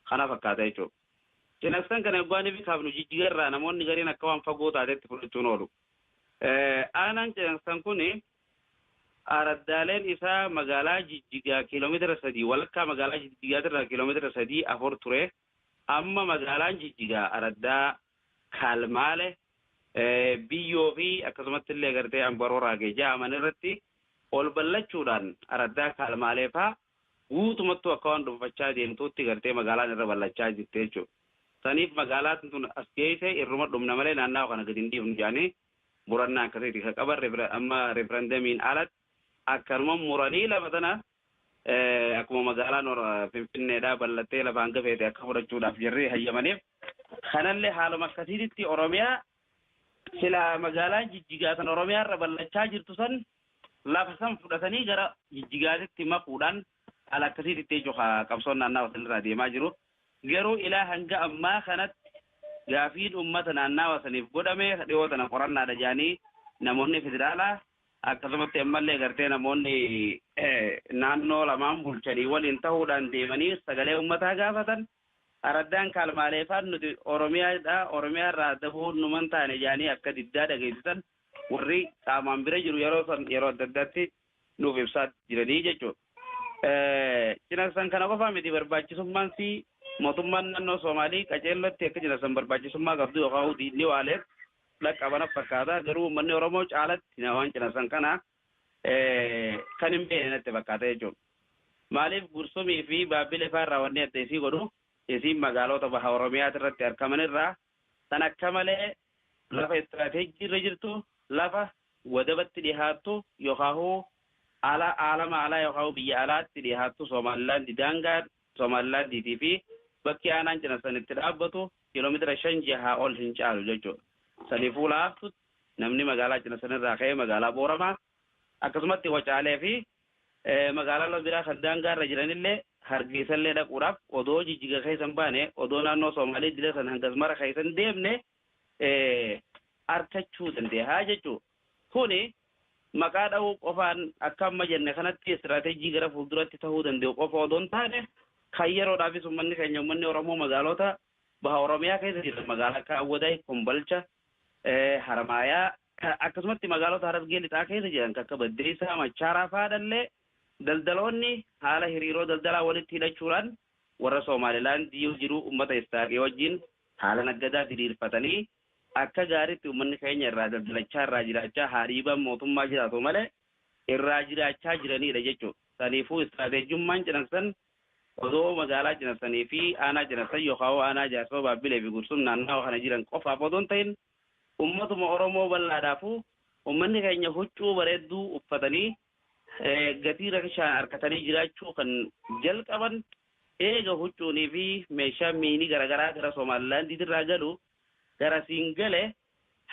kana fakkaata jechuudha. Jina san kana yoggaa nifi kaafnu Jijjiga irraa namoonni gariin akka waan fagoo taatetti fudhachuun oolu. Aanaan jina san kun araddaaleen isaa magaalaa Jijjigaa kiilomeetira 3 walakkaa magaalaa Jijjigaatirraa kiilomeetira 3, 4 ture. Amma magaalaan Jigjigaa araddaa Kaalmaale, Biyyoo fi akkasumattillee agartee Ambaroraagee ja'aman irratti ol bal'achuudhaan araddaa Kaalmaalee faa guutumattuu akka waan dhunfachaa deemtuutti gartee magaalaan irra bal'achaa jirti jechuudha. Saniif magaalaan tun as geeyse irruma dhumna malee naannawa kana gadi hin dhiifnu ja'anii murannaa akkasiiti ka qaban amma referendamiin alatti akkanuma muranii lafa tana akkuma magaalaan Finfinneedhaa bal'attee lafa hanga feete akka fudhachuudhaaf jarri hayyamaniif kanallee haaluma akkasiititti Oromiyaa sila magaalaan jijjigaa san Oromiyaarra bal'achaa jirtu san lafa san fudhatanii gara jijjigaatitti makuudhaan haala akkasiititti jechuudha qabsoon naannawa sanirraa deemaa jiru. Garuu ilaa hanga ammaa kanatti gaafiin uummata naannawa saniif godhame dhiyoo tana qorannaadha jedhanii namoonni federaalaa Akkasumatti ammallee gartee namoonni naannoo lamaan bulchanii waliin tahuudhaan deemanii sagalee ummataa gaafatan, araddaan kaalmaaleefaan nuti Oromiyaa dha, Oromiyaa irraa adda bahuun numa hin taane jedhanii akka diddaa dhageessisan warri qaamaan bira jiru yeroo san yeroo adda addaatti nuuf ibsaa jiranii jechuudha. Cinaqsan kana qofaa miti barbaachisummaan sii mootummaan naannoo Soomaalii qaceellootti akka cinaqsan barbaachisummaa qabdu yookaan diinni waaleef dhaqqaba natti fakkaata. Garuu uummanni Oromoo caalatti na waan cinaqsan kana kan hin beekne natti fakkaata jechuudha. Maaliif Gursumii fi Baabbilee faa irraa wanni adda isii godhu isiin magaaloota baha Oromiyaati irratti argaman irraa tan akka malee lafa istiraateejjii irra jirtu, lafa wadabatti dhihaattu yookaahuu ala aalama alaa yookaahuu biyya alaatti dhihaattu Soomaalilaandi daangaa Somalilaandiitii fi bakki aanaan Cinasan itti dhaabbatu kiilomeetira shan jahaa ol hin caalu jechuu dha. Saniifuu laaftuutti namni magaalaa Cinasan irraa ka'ee magaalaa Booramaa, akkasumatti Wacaalee fi magaalaalee biraa kan daangaa irra jiran illee Hargeessa illee dhaquudhaaf odoo Jijjiga keessa hin baane, odoo naannoo Somaalee idilee san hangas mara keessa hin deemne arkachuu dandeeha jechuu dha. Kuni maqaa dhahuu qofaan akka amma jenne kanatti istiraatejii gara fuulduratti tahuu danda'u qofa odoo hin taane, kan yeroodhaafis ummanni keenya ummanni Oromoo magaalota Baha Oromiyaa keessa jiran magaalaa akka Awwadaay, Kombolcha, Haramaayaa, akkasumatti magaalota Harargee Lixaa keessa jiran kan akka Baddeessaa, Machaaraa fa'aadhallee daldaloonni haala hiriiroo daldalaa walitti hidhachuudhaan warra Soomaalilaand yoo jiru ummata Istaaqii wajjin haala naggadaa diriirfatanii Akka gaariitti ummanni keenya irraa daldalachaa, irraa jiraachaa, haariibaan mootummaa jiraatu malee irraa jiraachaa jiraniidha jechuudha. Saniifuu istiraateejummaan Cinaksan odoo magaalaa Cinaksanii fi aanaa Cinaksan yookaawoo aanaa Jaarsoo, Baabbilee fi Gursum naannawa kana jiran qofaaf odoo hin tahin ummatuma Oromoo bal'aadhaafuu ummanni keenya huccuu bareedduu uffatanii, gatii rakishaan arkatanii jiraachuu kan jalqaban eega huccuunii fi meeshaan miini garagaraa gara Somaalilaandiitirraa galu garasiin gale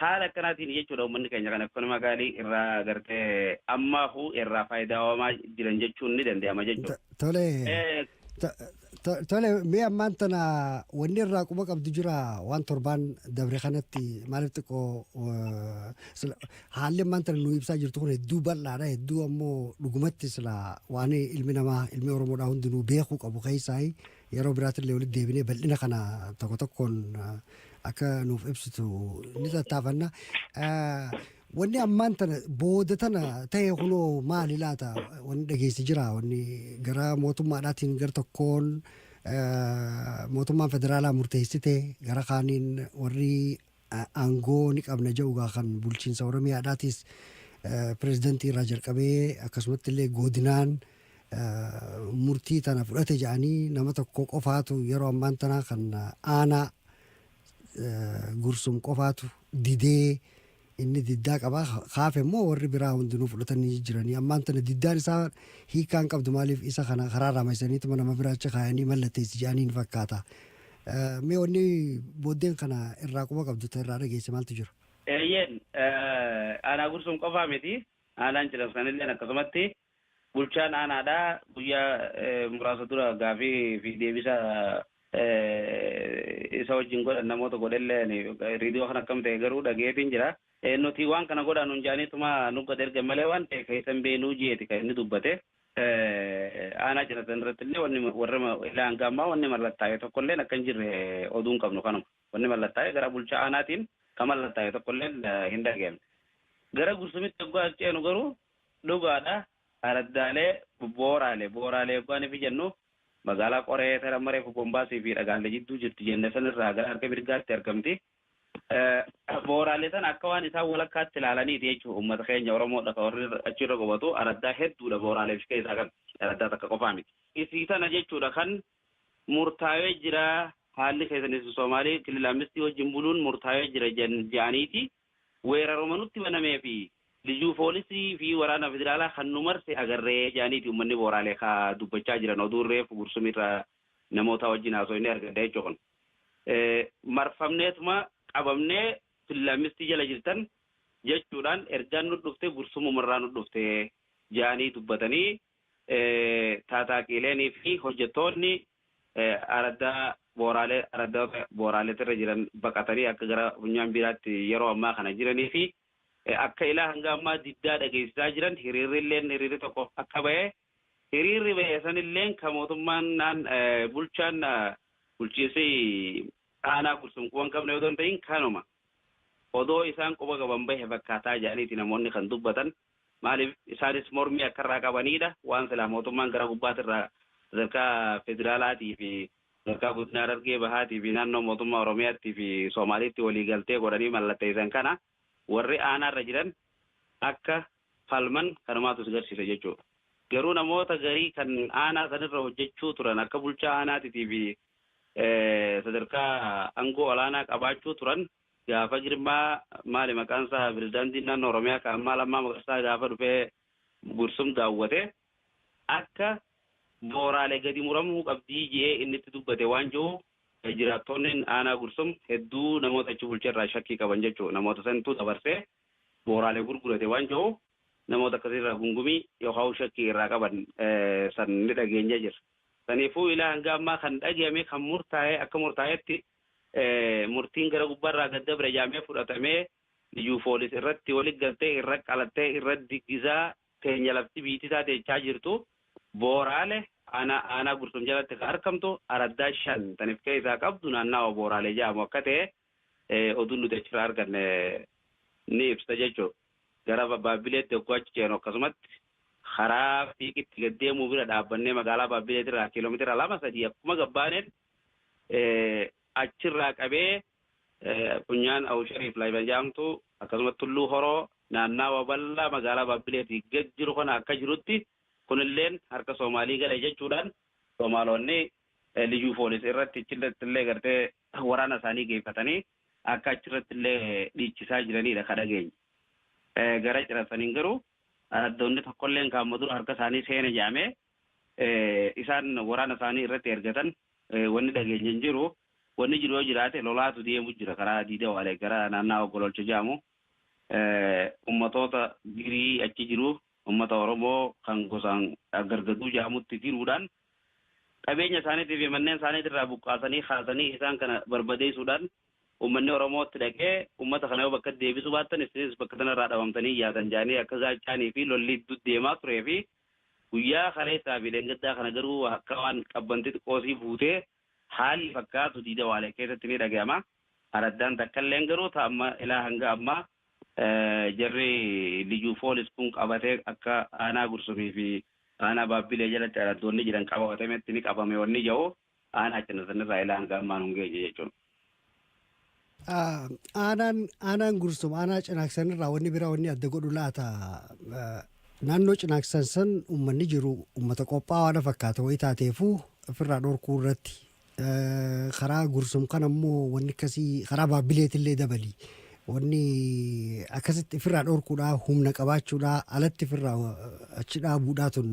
haala akkanaatiini jechuudha ummanni keenya kan ekonomikaalii irraa gartee ammaahuu irraa faayidaawamaa jiran jechuun ni danda'ama jechuudha. Tole Tole mee ammaan tana wanni irraa quba qabdu jira waan torbaan dabre kanatti maaliif xiqqoo haalli ammaan tana nu ibsaa jirtu kun hedduu bal'aadha hedduu ammoo dhugumatti sila waan ilmi namaa ilmi oromoodhaa hundinuu beekuu qabu keessaa yeroo biraatillee walitti deebinee bal'ina kana tokko tokkoon akka nuuf ibsitu ni tattaafanna. Wanni ammaan tana booda tana ta'e kunoo maali laata wanni dhageessi jira wanni gara mootummaadhaatiin gar tokkoon mootummaan federaalaa murteessite gara kaaniin warri aangoo ni qabna ja'ugaa kan bulchiinsa oromiyaadhaatis pirezidantii irraa jalqabee akkasumatti illee godinaan murtii tana fudhate ja'anii nama tokko qofaatu yeroo ammaan tana kan aanaa Gursum qofaatu didee inni diddaa qaba. Kaafe immoo warri biraa hundinuu fudhatanii jijjiranii ammaan tana diddaan isaa hiikaa hin qabdu maaliif isa kana karaa raamaysaniituma nama biraa achi kaayanii mallatteessi jedhaniin fakkaata. Mee wanni booddeen kana irraa quba qabdu ta'e irraa dhageesse maaltu jira? Eeyyeen aanaa Gursum qofaa miti aanaan Cilamsanilleen akkasumatti Bulchaan aanaadhaa guyyaa muraasa dura gaafii fi deebisa isa wajjin godhan namoota godhellee ani riidiyoo kan akkam ta'e garuu dhaga'eetiin jira. Nuti waan kana godhaa nuun ja'aniituma nu gad ergan malee waan ta'e keessa hin beeknuu jeeti kan inni dubbate. Aanaa Ciratan irrattillee wanni warra ilaa hanga ammaa wanni mallattaa'e tokkolleen akka hin jirre oduun qabnu kanuma. Wanni mallattaa'e gara bulchaa aanaatiin kan mallattaa'e tokkolleen hin dhaga'amne. Gara Gursumitti oggaa ceenu garuu Dhugaadha, araddaalee Booraale, Booraalee yoggaa nifi jennu, magaalaa Qoree tara amma reefu Bombaasii fi Dhagaalle jidduu jirti jenne san irraa gara harka mirgaatti argamti. Booraale tana akka waan isaan walakkaatti ilaalaniiti jechuudha uummata keenya Oromoodha ka warri achi irra qubatu. Araddaa hedduudha Booraaleef si keessaa qabdi. Araddaa takka qofaa miti. Isii tana jechuudha kan murtaawee jira haalli keessan isin Soomaalii kilila Ammistii wajjin buluun murtaawee jira ja'aniiti. weeraruma nutti banamee fi Lijuu Foolisii fi waraana Federaalaa kan nu marse agarre jedhaniiti ummanni Booraalee ka dubbachaa jiran oduun reefu Gursum irraa namootaa wajjin haasoyne argadhe jechuudha kun. Marfamneetuma qabamne Fillaammistii jala jirtan jechuudhaan ergaan nu dhufte Gursumuma irraa nu dhufte jedhanii dubbatanii taataaqiileenii fi hojjettoonni araddaa booraalee araddoota booraaleetirra jiran baqatanii akka gara funyaan biiraatti yeroo ammaa kana jiranii fi akka ilaa hanga ammaa diddaa dhageessisaa jiran hiriirri illeen hiriirri tokko akka ba'e hiriirri ba'e san illeen kan mootummaan naan bulchaan bulchiinsi aanaa gursum quban qabne odoo hin ta'in kanuma odoo isaan quba qaban bahe fakkaataa jedhaniiti namoonni kan dubbatan. Maaliif? Isaanis mormii akka irraa qabaniidha. Waan silaa mootummaan gara gubbaatti irraa sadarkaa federaalaatii fi sadarkaa godina Harargee Bahaatii fi naannoo mootummaa Oromiyaattii fi Soomaaliitti walii galtee godhanii mallatteessan kana warri aanaa irra jiran akka falman kanumaatu si garsiisa jechuudha. Garuu namoota garii kan aanaa sanirra hojjechuu turan akka bulchaa aanaatitii fi sadarkaa angoo olaanaa qabaachuu turan Gaafa Girmaa maali maqaan isaa Pirezidaantiin Naannoo Oromiyaa kan ammaa Lammaa Magarsaa gaafa dhufee Gursum daawwate akka Mooraale gadi muramuu qabdii je'ee inni itti dubbate waan jiru jiraattoonnin Aanaa Gursum hedduu namoota achi bulche irraa shakkii qaban jechu namoota santu dabarsee Mooraale gurgurate waan jiru namoota akkasii irraa gungumii yookaan shakkii irraa qaban san ni dhageenye jira. Saniifuu ilaa hanga ammaa kan dhageame kan murtaa'e akka murtaa'etti murtiin gara gubbaa irraa gad dabre jaamee fudhatamee liyyuu foolis irratti wali galtee irra qalattee irra diggisaa teenya lafti biitisaa teechaa jirtu Booraale aanaa aanaa Gursum jalatti ka arkamtu araddaa shan tan if keessaa qabdu naannaawa Booraalee jaamu akka ta'e oduun nuti achirraa arganne ni ibsa jechuudha. Gara Baabbileetti yogguu achi ceenu akkasumatti karaa fiiqitti gad deemuu bira dhaabbannee magaalaa Baabbileetirraa kiiloomeetira lama sadii akkuma gabbaaneen Achirraa qabee funyaan Awushariif Laayban jedhamtu akkasumas Tulluu Horoo naannawa bal'aa magaalaa Baabbileetii gad jiru kana akka jirutti kunilleen harka Soomaalii gale jechuudhaan Soomaalonni Liyyuu Poolis irratti achirrattillee gartee waraana isaanii geeffatanii akka achirrattillee dhiichisaa jiraniidha ka dhageenye. Gara Cirasaniin garuu araddoonni tokkolleen kaamma dura harka isaanii seene jedhamee isaan waraana isaanii irratti ergatan wanni dhageenye hin jiru. Wanni jiru yoo jiraate lolaatu deemu jira karaa Diida Waalee gara naannawa Gololcha jedhamu. Ummatoota Girii achi jiru ummata Oromoo kan gosaan Gargaduu jedhamutti giruudhaan qabeenya isaaniitii fi manneen isaaniitii irraa buqqaasanii kaasanii isaan kana barbadeessuudhaan ummanni Oromoo itti dhaqee ummata kana yoo bakka deebisuu baattan isinis bakka sana irraa dhabamtanii yaatan jedhanii akka gaachaanii fi lolli deemaa turee fi Guyyaa kaleessaa fi dheengaddaa kana garuu akka waan qabban xixiqqoo sii fuutee haalli fakkaatu Diida Waalee keessatti ni dhagayama. Araddaan takkalleen garuu ta amma ilaa hanga ammaa jarri Liyyu Poolis kun qabatee akka Aanaa Gursumii fi Aanaa Baabbilee jalatti araddoonni jiran qababatametti ni qabame wanni jahuuf Aanaa Cinasanirraa ilaa hanga ammaa nun geenye jechuun. Aanaan aanaan gursum aanaa cinaaksan irraa wanni biraa wanni adda godhu laata naannoo cinaaksan san uummanni jiru uummata qophaa'aa na fakkaata wayii taateefuu ofirraa dhorkuu irratti karaa gursum kan ammoo wanni akkasii karaa baabbileetillee dabalii Wanni akkasitti ifirraa dhorkuudhaa humna qabaachuudhaa alatti ifirraa achi dhaabuudhaa tun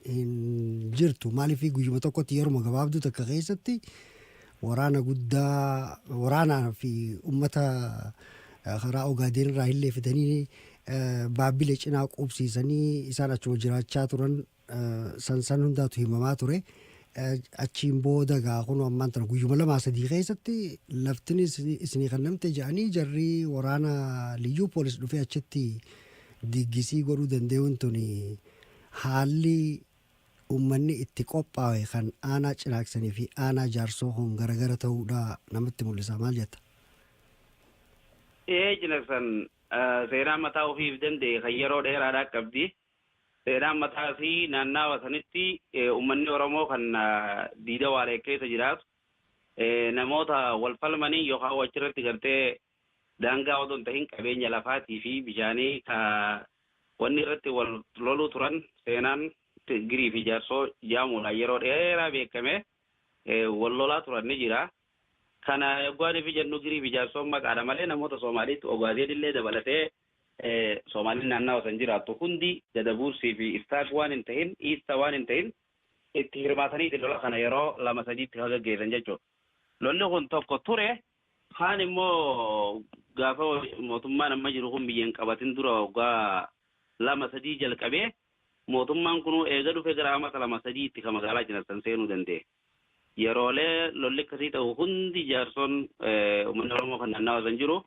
hin jirtu. Maaliif guyyuma tokkotti yeruma gabaabduu takka keessatti waraana guddaa waraanaa fi ummata eh, karaa ogaadeen irraa illee fidanii eh, baabile cinaa quubsiisanii isaan achuma jiraachaa turan san san hundaatu himamaa ture. Achiin booda gaa kun ammaan tana guyyuma lamaa sadii keessatti laftin isinii kan namte jedhanii jarri waraana liyyuu poolis dhufee achitti diggisii godhuu danda'uun tuni haalli uummanni itti qophaa'e kan aanaa cinaaksanii fi aanaa jaarsoo kun garagara ta'uudha namatti mul'isa maal jetta? Ee cinaksan seenaa mataa ofiif danda'e kan yeroo dheeraadhaa qabdi. Seenaan mataa isii naannaawa sanitti ummanni Oromoo kan Diida Waaleek keessa jiraatu namoota wal falmaniin yookaan hoo achirratti gartee daangaa odoo hin tahin qabeenya lafaatii fi bishaanii ka wanni irratti wal loluu turan seenaan Girii fi Jaarsoo jaamuudhaan yeroo dheeraa beekame wal lolaa turan ni jira. Kana yoggaaniif jennu Girii fi Jaarsoon maqaadha malee namoota Soomaaliitti Ogaadeen illee dabalatee Soomaalin naannawa san jiraattu hundi Dadabuursii fi Istaak waan hin tahin, Iista waan hin tahin itti hirmaataniiti lola kana yeroo lama sadiitti ka gaggeessan jechuudha. Lolli kun tokko ture, kaan immoo gaafa mootummaan amma jiru kun biyya hin qabatin dura waggaa lama sadii jalqabee mootummaan kunuu eega dhufe gara amata lama sadiitti ka magaalaa Cinarsan seenuu danda'e. Yeroolee lolli akkasii ta'u hundi jaarson ummanni Oromoo kan naannawa san jiru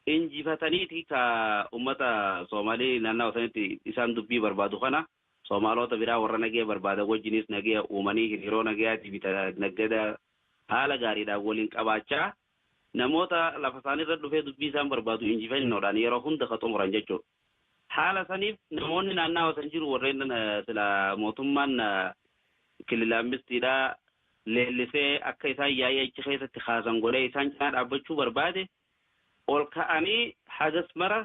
injifataniiti ka ummata Somalii naannawa sanitti isaan dubbii barbaadu kana Somaloota biraa warra nageya barbaadan wajjiniis nageya uumanii hiriiroo nageyaatii fi naggada haala gaariidhaan waliin qabaachaa namoota lafa isaaniirra dhufee dubbii isaan barbaadu injifannoodhaan yeroo hunda ka xumuran jechuudha. Haala saniif namoonni naannawa san jiru warreen silaa mootummaan kilila ammistiidhaa leellisee akka isaan yaa'ii achi keessatti kaasan godhee isaan cinaa dhaabbachuu barbaade ol ka'anii hagas mara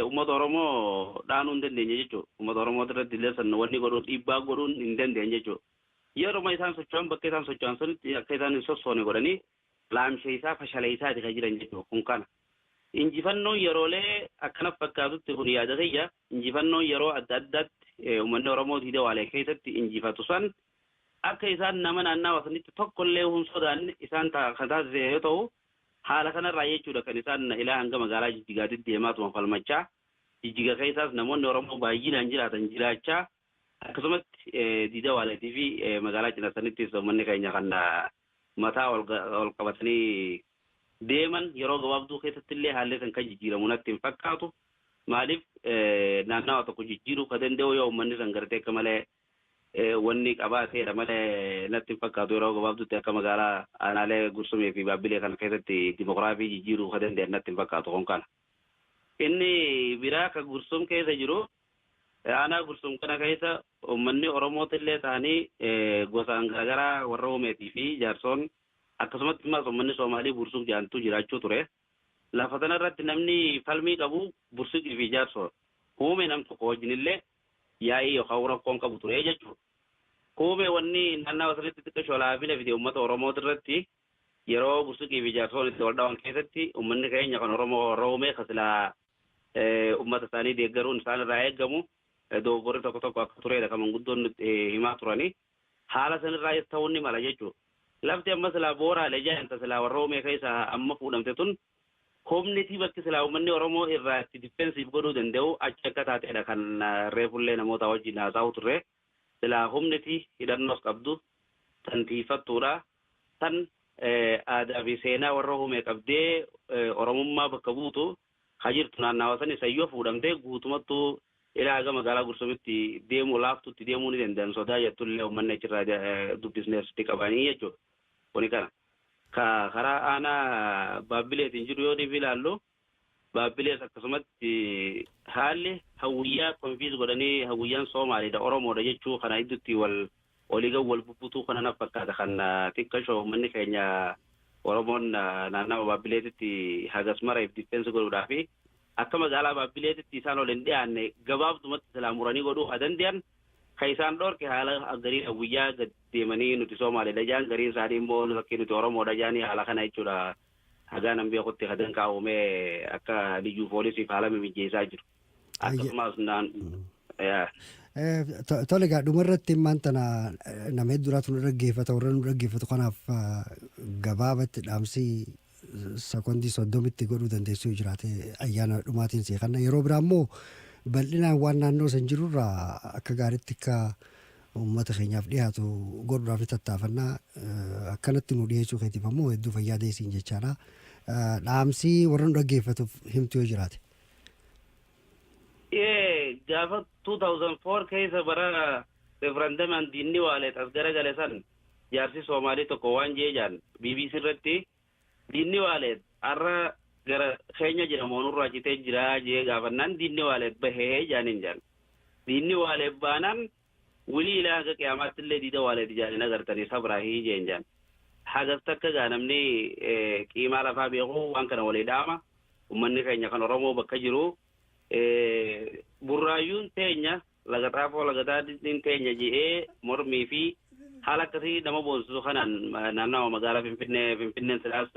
uummata Oromoo dhaanuu hin dandeenye jechuudha. Uummata Oromoo irratti illee san wanni godhuun dhiibbaa godhuun hin dandeenye jechuudha. Yeruma isaan socho'an bakka isaan socho'an sanitti akka isaan hin sossoone godhanii laamsheessaa, fashaleessaati kan jiran jechuudha. Kun kana. Injifannoon yeroolee akka natti fakkaatutti kun yaada kiyya, injifannoon yeroo adda addaatti uummanni Oromoo diida waalee keessatti injifatu san akka isaan nama naannawa sanitti tokko illee hin sodaanne isaan kan taasise yoo ta'u, haala kanarraa jechuudha kan isaan ilaa hanga magaalaa Jijjigaa deddeemaatuma falmachaa, Jijjiga keessaas namoonni Oromoo baayyinaan jiraatan jiraachaa, Akkasumatti Jiija Waaleetii fi magaalaa Cinasanittis uummanni keenya kan mataa ol qabatanii deeman yeroo gabaabduu keessatti illee haalli kan kan jijjiiramu natti hin fakkaatu. Maaliif naannawa tokko jijjiiruu kan danda'u yoo uummanni san gartee akka malee wanni qabaateedha malee natti hin fakkaatu yeroo gabaabduutti akka magaalaa aanaalee Gursumii fi Baabbilee kana keessatti dimokiraafii jijjiiruu kan danda'an natti hin fakkaatu kun kana. Inni biraa kan Gursum keessa jiru Aanaa Gursum kana keessa uummanni Oromooti illee ta'anii gosaan garagaraa warra Umeetii fi Jaarsoon akkasumatti ammaas uummanni Soomaalii Buursuq jedhantu jiraachuu ture. Lafa tana irratti namni falmii qabu Bursuqii fi Jaarsoodha. Uumee nam tokko wajjin illee yaa'ii yookaan rakkoon qabu ture jechuudha. Uumee wanni naannawa sanitti xiqqasho laafina fide uummata Oromooti irratti yeroo Bursuqii fi Jaarsoon itti wal dhawan keessatti uummanni keenya kan Oromoo warra Uumee kan silaa ummata isaanii deeggaruun isaan irraa eegamu dogoggorri tokko tokko akka tureedha kan manguddoon nutti himaa turani. Haala san irraayis ta'uun ni mala jechuu dha. Lafti amma silaa Booraale jedhan ta silaa Warroomee keessaa amma fuudhamte tun humnitii bakki silaa ummanni Oromoo irraa itti defensive godhuu danda'u achi akka taateedha kan reefullee namootaa wajjin haasa'uu turree. silaa humni fi hidhannoos qabdu tan tiiyfattuudha, tan aadaa fi seenaa warra Huumee qabdee Oromummaa bakka buutu ka jirtu naannawa sani san yoo fuudhamte guutumattu ila haga magaalaa Gursumitti deemuu laaftutti deemuu ni dandayan sodaa jettu illee ummanni achirraa dubbisne asitti qabanii jechuudha. Kuni kana. Ka karaa aanaa Baabbileetiin jiru yoo dhibi ilaallu Baabbilees akkasumatti haalli hawwiyyaa confiis godhanii hawwiyyaan Soomaaliidha Oromoodha jechuu kana iddutti wal oliigan wal bubbutuu kana naf fakkaata kan xiqqasho ummanni keenya Oromoon naannawa Baabbileetitti hagas mara if defense godhuudhaafi akka magaalaa Baabbileetitti isaan ol hin dhiyaanne gabaabdumatti silaa muranii godhuu haa dandeyan ka isaan dhoorke haala gariin hawwiyyaa gad deemanii nuti Soomaaliidha jaan gariin isaanii immoo lakkii nuti Oromoodha jaanii haala kana jechuudha hagaan an beekutti ka danqaawame akka liyyuu poolisiif haala mimijjeessaa jiru. Akkasumas naan Tole egaa dhumarratti immaan tana nama hedduraatu nu dhaggeeffata warra nu dhaggeeffatu kanaaf gabaabatti dhaamsii sekondii soddomitti godhuu dandeessuu jiraate ayyaana dhumaatiin sii kanna yeroo biraa immoo bal'inaan waan naannoo san jirurraa akka gaariitti akka Uummata keenyaaf dhihaatu godhuudhaaf ni tattaafanna. Akkanatti nuu dhiheessuu keetiif ammoo hedduu fayyaa ta'e siin jechaadha. Dhaamsi warra nu dhaggeeffatuuf himtu yoo jiraate. Ee gaafa 2004 keessa bara referandamaan diinni waaleet as garagale san jaarsi Soomaalii tokko waan jee jaan BBC irratti Diinni Waaleet arra gara keenya jira moo nurraa citee jira jee gaafannaan diinni Waaleet bahe jaaniin jaan. Diinni Waaleet baanaan wly ilaa haga qiyaamaattillee diida Waaleet jaan hin agartanii sabraahi jeen jaan. Hagas takka gaa namni qiimaa lafaa beeku waan kana walii dhaama. Ummanni keenya kan Oromoo bakka jiru Burraayyuun teenya Laga Xaafoo Laga Daadhiin teenya je'ee mormii fi haala akkasii nama boonsisu kanaan naannawa magaalaa Finfinnee Finfinneen silaas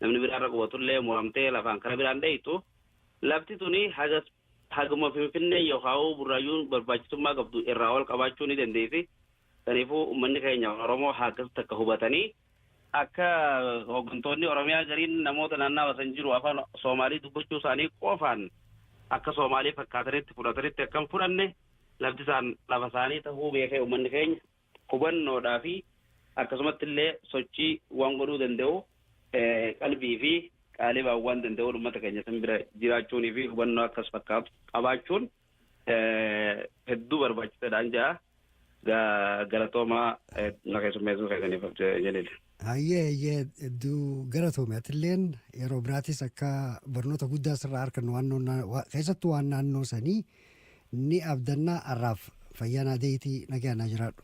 namni biraa irra qubatullee muramtee lafaan kara biraan dheeytu lafti tuni hagas haguma Finfinnee yookaa'uu burraayyuun barbaachisummaa qabdu irraa ol qabaachuu ni dandeessi. Saniifuu ummanni keenya Oromoo haa akkasitti akka hubatanii Akka hoggantoonni Oromiyaa gariin namoota naannawa san jiru afaan Soomaalii dubbachuu isaanii qofaan akka Soomaalii fakkaatanitti fudhatanitti akka hin fudhanne lafti isaan lafa isaanii tahuu beekee uummanni keenya hubannoodhaa fi akkasumatti illee sochii waan godhuu danda'u qalbii fi qaaliibaan waan danda'uun uummata keenya san bira jiraachuunii fi hubannoo akkas fakkaatu qabaachuun hedduu barbaachisaadhaan ja'a. Galatoomaa na keessummeessuu keessaniif Jaliil. Hayyee hayyee hedduu galatoomi atilleen yeroo biraatis akka barnoota guddaa sirraa argannu waan noon- wa- keessattuu waan naannoo sanii ni abdannaa arraaf fayyaa naa deeyitii nagaa naa jiraadhu.